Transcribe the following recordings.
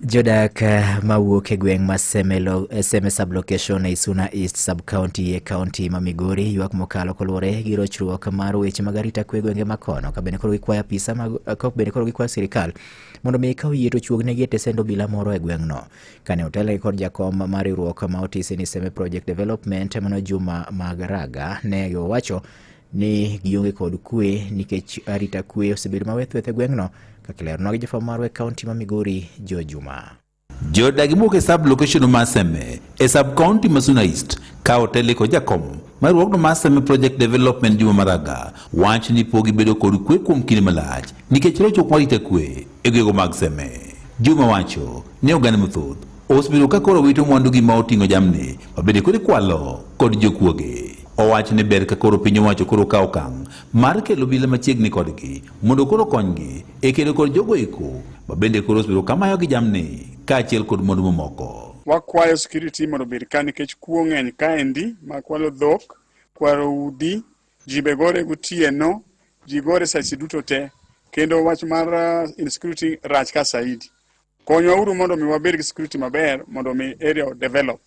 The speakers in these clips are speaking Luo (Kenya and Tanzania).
Jodak eh, mawuok e gweng' ma eh, Seme sublocation e Isuna East subcounty e kaunti ma Migori ywak mokalo koluwore gi rochruok mar weche mag arita kwe gwenge ma kono kabende koro gikwayo apisa eh, kabende koro gikwayo sirikal mondo mi ikaw yie to chuognegi e tesend obila moro e gweng'no kane otelgi kod jakom mar riwruok ma otisi ni Seme Project Development mano Juma Magaraga ne owacho ni gionge kod kwe nikech arita kwe osebedo mawethweth e gweng'no kaka ileronwa gi jafwambo marwa e kaonti ma Migori Joe Juma. Jodagi mowuok e sub location ma Seme e sub county ma Suna East ka otele kod jakom mar riwruogno mar Seme Project Development Juma Maraga wach ni pogi bedo kod kwe kuom kinde malach nikech rochruok marita kwe e gwego mag Seme. Juma wacho ni oganda mathoth Osebedo ka koro wito mwandugi ma oting'o jamni ma bende koro ikwalo kod jokuoge. Owach ni ber ka koro piny owacho koro kawo okang' mar kelo obila machiegni kodgi mondo koro konygi e kedo kod jogo eko ma bende koro osebedo ka mayogi jamni kaachiel kod mwandu mamoko. Wakwayo security mondo obed ka nikech kuo ng'eny kaendi ma kwalo dhok, kwaro udi, ji be gore gotieno, ji gore sache duto te kendo wach mar uh, insecurity rach ka saidi. Konywa uru mondo mi wabed gi security maber mondo mi area o develop.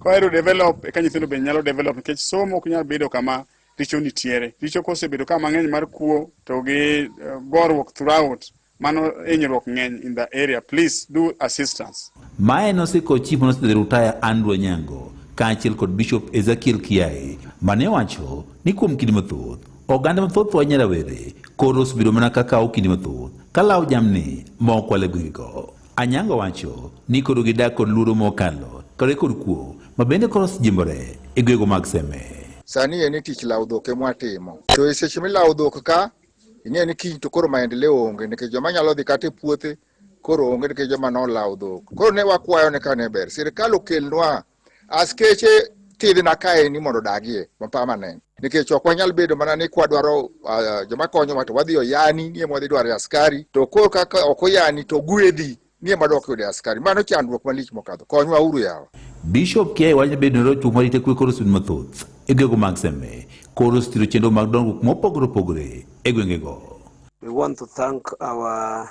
Ka area develop eka nyithindo be nyalo develop nikech somo ok nyal bedo kama richo nitiere. Richo kosebedo kama ng'eny mar kuo to gi eh, gorruok throughout mano hinyruok ng'eny in the area please do assistance. Mae nosiko chief manosedhi rutaya Andrew Onyango kaachiel kod Bishop Ezekiel Kiai mane wacho ni kuom kinde mathoth Oganda mathoth wanya rawere koro osebedo mana ka kawo kinde mathoth ka lawo jamni ma ok wale gwegego. Anyango wacho ni koro gidak kod luoro mokalo kare kod kuo ma bende koro osejimbore e gwego mag Seme. Sani en tich lawo dhok e mwatimo. To e seche milawo dhok ka, ing'e ni kiny to koro maendeleo onge nikech joma nyalo dhi kata e puothe koro onge nikech joma nolawo dhok. Koro ne wakwayo ne kane ber sirkal okelnwa Askeche thidhi na kae ni mondo odagie ma permanent nikech ok wanyal bedo mana ni kwadwaro uh, joma konyowa to wadhi oyani nie mwadhi dwaro askari to koro kaka ok oyani to gwedhi nie madok yude askari mano chandruok malich mokadho konywa uru yawa Bishop Kiai wacho ni bedo norochung ma rite kwe koro sud mathoth e gwego mag Seme koro ositiro chenro mag dongruok mopogore opogore e gwengego. We want to thank our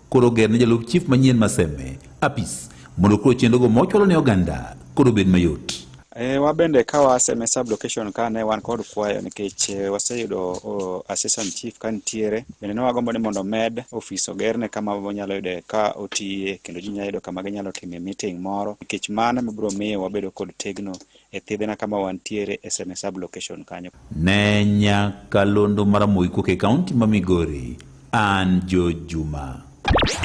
Koro ger ne jalup chief manyien Maseme apis mondo koro chenrogo mochwalo ne oganda koro bed mayot. E, wabende ka waseme sublocation ka ne wan kod kwayo nikech e, waseyudo o, assistant chief ka nitiere bende ne wagombo ni mondo omed ofis ogerne kama wanyalo yude ka otiye kendo ji nyalo yudo kama ginyalo time meeting moro nikech mano mibiro miyo wabedo kod tegno e thidhna kama wantiere e Seme sub location kanyo. Ne Nyakalondo mar Moikuok e kaunti ma Migori, an Jo Juma.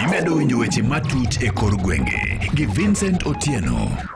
Imedo winjo weche matut e kor gwenge gi Vincent Otieno.